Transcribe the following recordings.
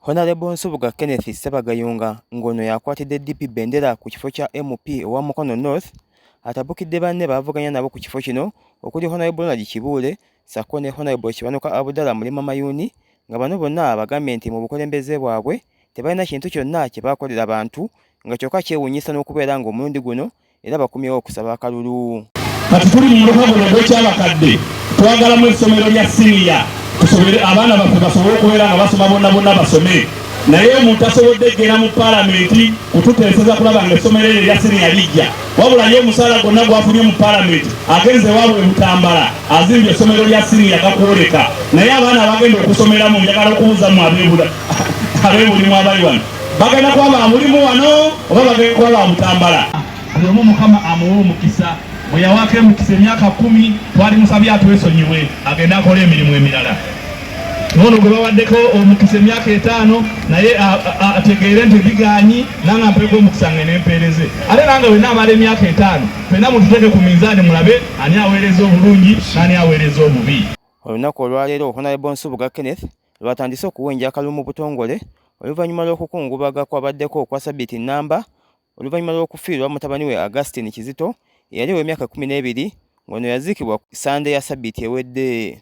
Honalebo Nsubuga Kenneth Ssebagayunga ng'ono yakwatidde DP bendera ku kifo kya MP owa Mukono North atabukidde banne baavuganya nabo ku kifo kino okuli Honalebo Ronald Kibuule ssaako ne Honalebo Kiwanuka Abudala Mulima Mayuuni nga bano bonna abagambye nti mu bukulembeze bwabwe tebalina kintu kyonna kye baakolera bantu nga kyokka kyewuunyisa n'okubeera ng'omulundi guno era bakomyewo okusaba akalulu. Kati tuli mu muluka guno ogw'ekyabakadde, twagalamu essomero lya siniya tusobere abaana baffe basobole okubeera nga basoma bonna bonna basome naye omuntu asobodde eggera mu palamenti kututeeseza kulaba nga essomero eryo erya siniya lijja wabula ye omusaala gwonna gwafunye mu palamenti agenze waabwe butambala azimbye essomero lya siniya gakwoleka naye abaana abagenda okusomeramu njagala okubuuza mu abeebulimu abali wano bagenda kuba ba mulimu wano oba bagenda kuba ba mutambala buli omu mukama amuwa omukisa bwe yawako emukisa emyaka kumi twali musabye atwesonyiwe agende akola emirimu emirala nono gwe bawaddeko omukisa emyaka etaano naye ategeere nti biganyi nanga mpeeko omukisa nge nempeereze ate nanga wena amala emyaka etaano fena mututeeke ku minzaani mulabe ani aweereza obulungi nani aweereza obubi olunaku olwaleero honalebo nsubuga kenneth lwatandise okuwenja akalulu mu butongole oluvannyuma lw'okukungubaga kwabaddeko okwa sabiti nnamba oluvannyuma lw'okufiirwa mutabani we Augustine Kizito eyali ow'emyaka kkumi n'ebiri ng'ono yaziikibwa ku ssande ya sabiti ewedde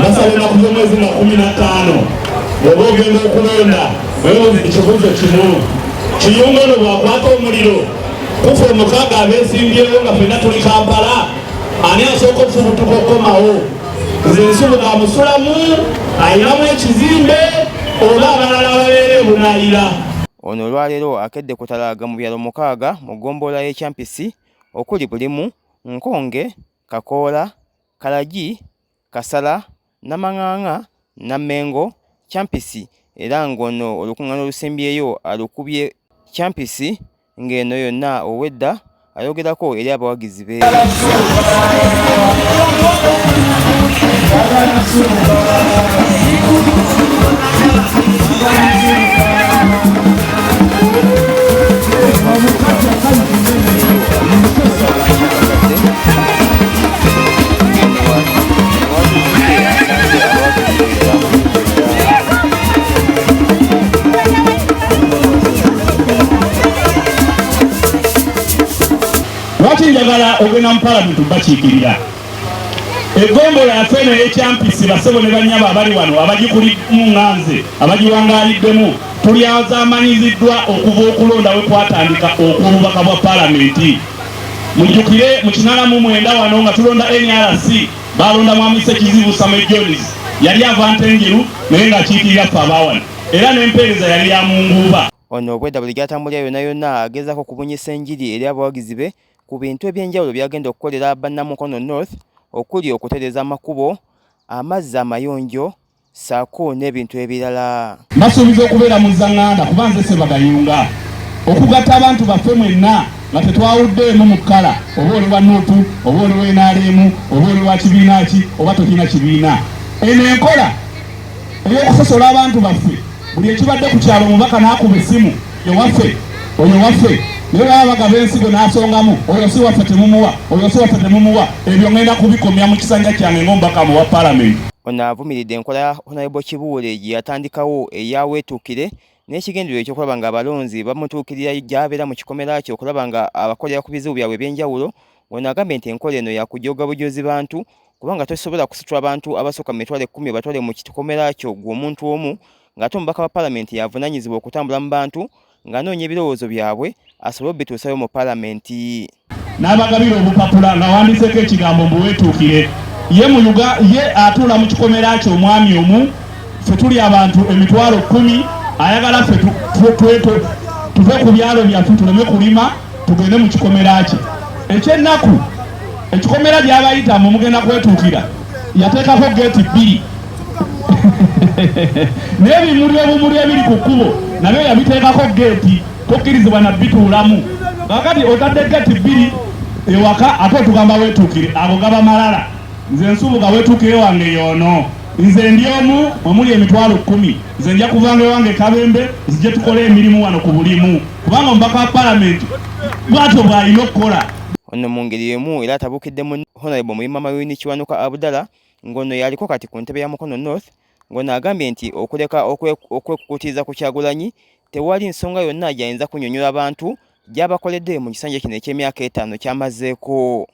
nasalina kuva omwezi nga kumi na ttaano oba ogenda okulonda webuuza ekibuuzo kimu kiyunga no bwakwata omuliro kufa omukaaga abesimbyewo nga fenna tuli kampala ani asooka okufubutuka okukomawo nze nsubuga amusulamu ayinamu ekizimbe oba abalala ababeera ebunayira Ono olwaleero akedde kutalaaga mu byalo mukaaga mu ggombolola y'e Kyampisi okuli Bulimu, Nkonge, Kakoola, Kalagi, Kasala, Namang'ang'a, Nammengo, Kyampisi era ng'ono olukung'ana olusembyeyo alukubye Kyampisi ng'eno yonna obwedda ayogerako eri abawagizi be lwaki njagala ogenda mu palamenti bakiikirira egombolo afe eno eyekyampisi basebo ne banyabo abali wano abagikulimu nganze abagiwangaaliddemu tulyazamanyiziddwa okuva okulonda we kwatandika okububaka bwa palamenti mujjukire mu kinana mu mwenda wano nga tulonda nrc balonda mwamisa ekizibu same jones yali avanta enjeru naye ng'akiikirira ffe abawano era n'empeereza yali ya munguuba Ono obwedda buli gy'atambulira yonna yonna agezaako okubunyisa enjiri eri abawagizi be ku bintu eby'enjawulo by'agenda okukolera Bannamukono North okuli okutereeza amakubo, amazzi amayonjo ssaako n'ebintu ebirala. Mbasuubiza okubeera muzzanganda kuba nze Sebagayunga okugatta abantu baffe mwenna nga tetwawuddeemu mu kkala oba oli wa nup oba oli wa nrm oba oli wa kibiina ki oba tolina kibiina. Eno enkola. eby'okusosola abantu baffe buli ekibadde ku kyalo omubaka n'akuba essimu ewaffe oyo waffe naye baba bagaba ensigo n'asongamu oyo si waffe temumuwa oyo si waffe temumuwa ebyo ngenda kubikomya mu kisanja kyange ng'omubaka mu wa palamenti ono avumiridde enkola ya honalebo kibuule gye yatandikawo eyaweetuukire n'ekigendererwa ekyokulaba nga abalonzi bamutuukirira gy'abeera mu kikomera kye okulaba nga abakolera ku bizibu byabwe eby'enjawulo ono agambye nti enkola eno yakujooga bujoozi bantu kubanga tosobola kusitula abantu abasooka mu mitwalo ekkumi obatwale mu kikomera kyo gwe omuntu omu ng'ate omubaka wa palamenti y'avunaanyizibwa okutambula mu bantu ng'anoonya ebirowoozo byabwe asobole obituusayo mu palamenti n'abagabira obupapula nga wandiseeko ekigambo mbu weetuukire ye atuula mu kikomera kyo omwami omu ffe tuli abantu emitwalo kumi ayagala ffe tuve ku byalo byaffe tuleme kulima tugende mu kikomera kye ekyennaku ekikomera gyabayita mu mugenda kwetuukira yateekako geeti bbiri n'ebimuli obumuli ebiri ku kkubo nabyo yabiteekako geeti tokkirizibwa na bituulamu kakati otadde geeti bbiri ewaka ate otugamba wetuukire ago gaba malala nze nsubuga wetuukire wange yoono Nze ndi omu mwe muli emitwalo kkumi. Nze nja kuvanga ewange e Kabembe nzije tukole emirimu wano ku bulimu kubanga omubaka wa palamenti bwatyo bw'alina okukola. Ono mu ngeri y'emu era atabukidde mu Honalebo Muyima Mayuuni Kiwanuka Abudala ng'ono yaliko kati ku ntebe ya Mukono North ng'ono agambye nti okuleka okwekukutiza ku Kyagulanyi tewali nsonga yonna gy'ayinza kunyonyola bantu gyabakoledde mu kisanja kino eky'emyaka etaano kyamazeeko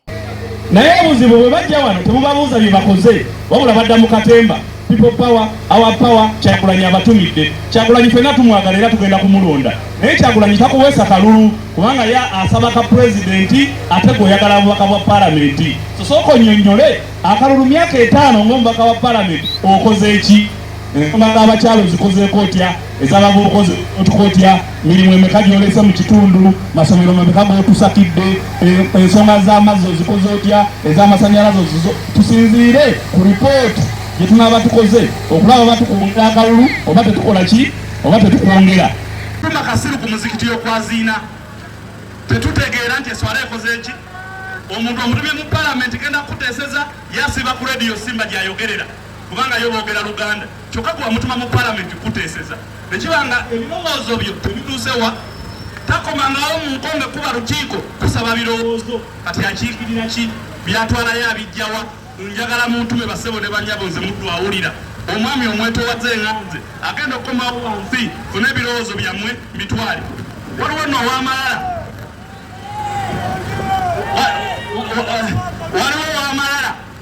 naye obuzibu bwe bajja wano tebubabuuza bye bakoze wabula badda mu katemba people power our power kyagulanyi abatumidde kyagulanyi fena tumwagala era tugenda kumulonda naye kyagulanyi takuweesa kalulu kubanga ya asaba ka pulezidenti ate gweoyagala abubaka bwa palamenti sosooka onyonyole akalulu myaka etaano ngaomubaka wa palamenti okoze eki ensonga z'abakyalo zikozeeko otya ezabavubuka otukotya mirimu emeka gyolese mu kitundu masomero mabeka gotusakidde e, ensonga z'amazzi ozikoze otya ez'amasanyalaze tusinziire ku ripooti gye tunaaba tukoze okulaba oba tukwongera akalulu oba tetukola ki oba tetukwongera tuma kasiru ku muzikiti y'okwaziina tetutegeera nti eswala ekoze ki omuntu omutumye mu palamenti genda kukuteeseza yasiba ku rediyo simba gyayogerera kubanga yo boogera luganda kyokka gwe wamutuma mu palamenti kuteeseza ne kiba nga ebirowoozo byo tebituusewa takomangawo mu nkonge kuba lukiiko kusaba birowoozo kati akiikirira ki byatwalayo abijjawa njagala muntume basebo ne banyabo nze muddu awulira omwami omwetowaze enganze agenda okukomawo wansi funa ebirowoozo byammwe mbitwale waliwo no owamalala waliwo owamalala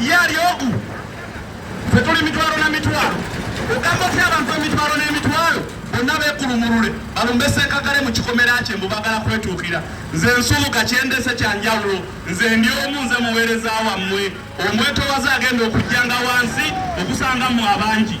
Ye ali ogu ffe tuli mitwalo na mitwalo ogamba otya abantu emitwalo n'emitwalo bonna beekulumulule balumbe senkagale mu kikomera kye mbu bagala kwetuukira nze nsubuka kyendese kya njawulo nze ndi omu nze muweereza wammwe omwetowaze agenda okujjanga wansi okusanga mu abangi